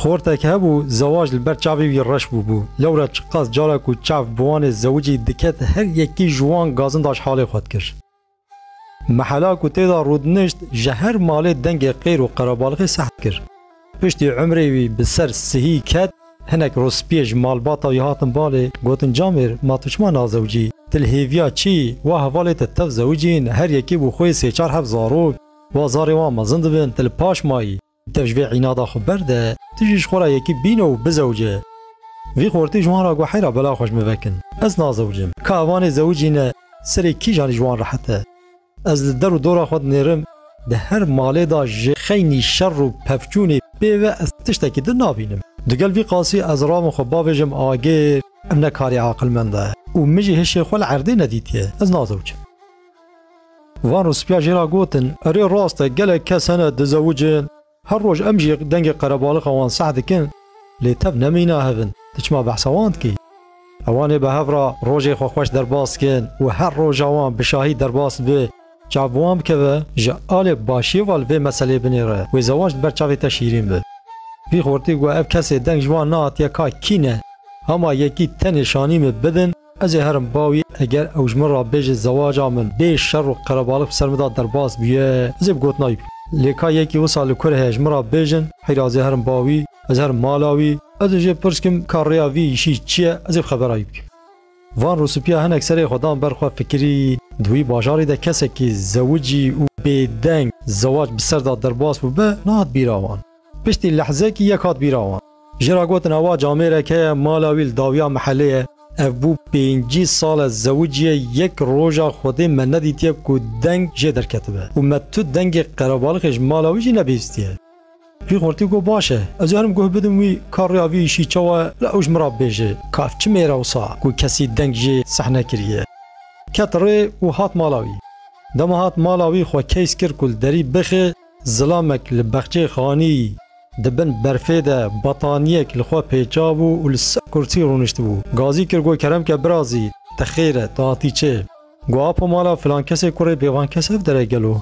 Xortek hebû, zewac li ber çavê wî reş bûbû. Lewra çiqas cara ku çav bi wanê zewicî diket her yekî ji wan gazindaş halê xwe dikir. Mehela ku têda rûdinişt ji her malê dengê qêr û qerebalixê seht kir. Piştî umrê wî bi ser sihî ket, hinek rospiyê ji malbata wî hatin balê, gotin Camêr, ma tu çima nazewicî? Tu li hêviya çi yî? Wa hevalê te tev zewicîn, her yekî bû xwe yê sê çar heft zarok. Wa zarê wan mezin dibin, tu li paş mayî. Tev ji vê înada xwe berde, tu jî ji xwe re yekî bîne û bizewce. Vî xortî ji wan re got heyra bela xwe ji min vekin. Ez nazewicim. Ka ev anê zewicî ne, serê kîjan ji wan rehet e. Ez li der û dora xwe dinêrim, di her malê de ji xeynî şer û pevçûnê pê ve ez tiştekî din nabînim. Digel vî qasî ez rabim xwe bavêjim agir, ev ne karê aqilmend e û min jî hişê xwe li erdê nedîtiye. Ez nazewicim. Van rûspîya jê ra gotin, Erê rast e, gelek kes hene dizewicin, her roj em jî dengê qerebalixa wan seh dikin, lê tev nemîna hev in, tu çima behsa wan dikî? Hewan ê bi hev ra rojê xwe xweş derbas dikin û her roja wan bi şahî derbas dibe, çav bi wan bikeve, ji alê başiyê ve li vê meseleyê binêre, wê zewac li ber çavê te şîrîn be. Vî xortî got, Ev kesê deng ji wan nehatiye ka kî ne, hema yekî tenê şanî min bidin, Ez ê herim bawî eger ew ji min re bêje zewaca min bê şer û qerebalix bi ser min de derbas bûye, ez ê bi gotinayî bikim. Lê ka yekî wisa li kur heye ji min re bêjin heyra ez ê herim bawî, ez herim mala wî, ez ê jê pirskim ka rêya vî îşî çi ye, ez ê bi xeberayî bikim. Van rûspîya hinek serê xwe dan ber xwe fikirî, di wî bajarî de kesekî zewicî û bêdeng zewac bi ser de derbas bûbe, nehat bîra wan. Piştî lehzekî yek hat bîra wan. Ji ra gotin ewa camêrek heye mala wî li dawiya mihelê ye, ev bû pêncî sal e zewicî ye yek roja xwedê me nedîtiye ku deng jê derketibe û me tu dengê qerebalixê ji mala wî jî nebihîstiye. Vî xurtî got baş e ez ê herim guh bidim wî ka rêya vî îşî çawa ye lê ew ji min re bibêje ka ev çi mêr e wisa ku kesî deng jê seh nekiriye. Ket rê û hat mala wî. Dema hat mala wî xwe keys kir ku li derî bixê. Zilamek li bexçeyê xanî di bin berfê de bataniyek li xwe pêçabû û li ser kursî rûniştibû. Gazî kir got Keremke birazî te xêr e, tu hatî çê? Got Apo mala filankesê kurê bêvankes ev dere gelo?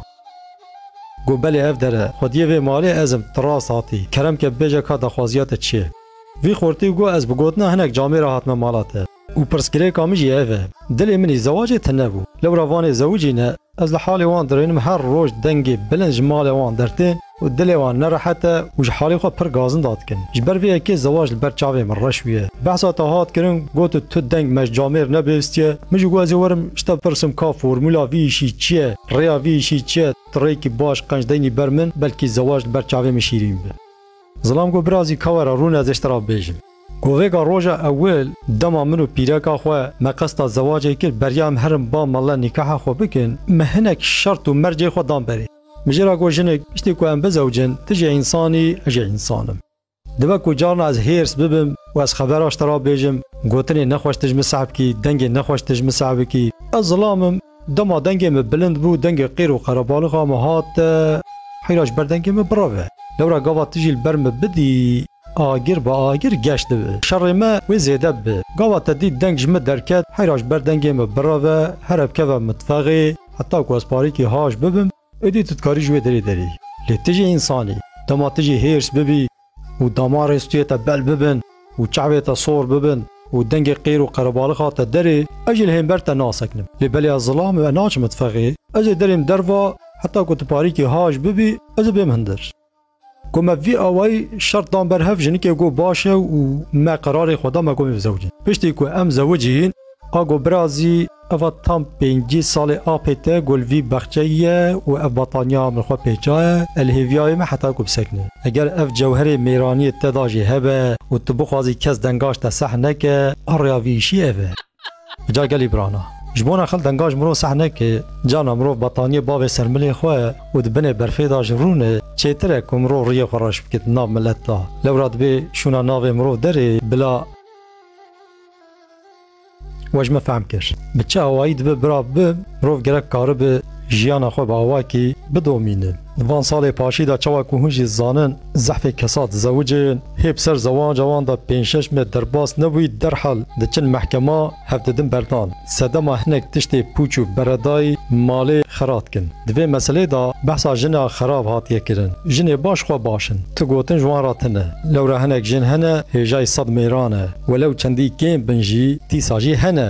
Got belê ev dere, xwediyê vê malê ez im, tu rast hatî. Keremke bibêje ka daxwaziya te çi ye? Vî xortî got ez bi gotina hinek camê re hatime mala te. Û pirsgirêka min jî ev e. Dilê minî zewacê tine bû. Lewra vanê zewicî ne. Ez li halê wan dirênim her roj dengê bilind ji malê wan dertên û dilê wan nerehet e û ji halê xwe pir gazinda dikin. Ji ber vê yekê zewac li ber çavê min reş bûye. Behsa te hat kirin got tu deng me ji camêr nebêhstiye. Min jî got ez ê werim ji te bipirsim ka formula vî îşî çi ye, rêya vî îşî çi ye, tu rêyekî baş qenc deynî ber min belkî zewac li ber çavê min şîrîn be. Zilam got birazî ka were rûne ez ê ji te re bibêjim. Got vêga roja ewil dema min û pîreka xwe me qesta zewacê kir beriya em herin ba mele nîkaha xwe bikin min hinek şert û mercê xwe dan berê. Min jê re got jinik piştî ku em bizewicin tu jî însan î ez jî însan im. Dibe ku carna ez hêrs bibim û ez xebera ji te re bêjim gotinê nexweş tu ji min sahbikî dengê nexweş tu ji min sahbikî ez zilam im. Dema dengê min bilind bû, dengê qîr û qerebalixa min hat. Heyra ji ber dengê min bireve. Lewra gava tu jî li ber min bidî, agir bi agir geş dibe. Şerê me wê zêde bibe. Gava te dît deng ji min derket, heyra ji ber dengê min bireve, here bikeve mitfexê, heta ku ez parîkî haş bibim, êdî tu dikarî ji wê derê derî. Lê tu jî însan î. Dema tu jî hêrs bibî, û damarê stûyê te bel bibin û çavê te sor bibin û dengê qêr û qerebalixan te derê, ez jî li hember te naseknim. Lê belê ez zilam û ez naçim mitfexê, ez ê derêm derva, heta ku tu parîkê haş bibî, ez ê bêm hundir. Ku me vî awayî şert dan ber hev, jinikê got baş e û me qerarê xwe da me got mê bi zewicin. Piştî ku em zewicîn, Ago birazî, eva tam pêncî salê apê te ku li vî baxçeyî ye û ev bataniya min xwe pê çaye, e li hêviyayê me heta ku bisekine. Eger ev cewherê mêraniyê te da jî hebe û tu bixwazî kes dengaş te seh neke, a rêya vî îşî ev e. Bi ca gelî birana. Ji bo nexil dengaş mirov seh neke, carna mirov bataniyê bavê ser milê xwe û di binê berfê da ji rûne, çêtir e ku mirov riyê xwe reş bike di nav milet da. Lewra dibê şûna navê mirov derê bila. We ji min fehm kir. Bi çi awayî dibe bira bibe, mirov gerek karibe jiyana xwe bi awayekî bidomîne. Di van salê paşî de çawa ku hûn jî zanin zehfê kesa dizewicê hê bi ser zewanca wan de pênc şeş me derbas nebûyî derhal diçin mehkema hev didin berdan. Sedema hinek tiştê pûç û beredayî malê xera dikin. Di vê meselê de behsa jina xerab hatiye kirin. Jinê baş xwe baş in. Tu gotin ji wan re tune. Lewra hinek jin hene hêjayî sed mêran e. Welew çendî kêm bin jî dîsa jî hene.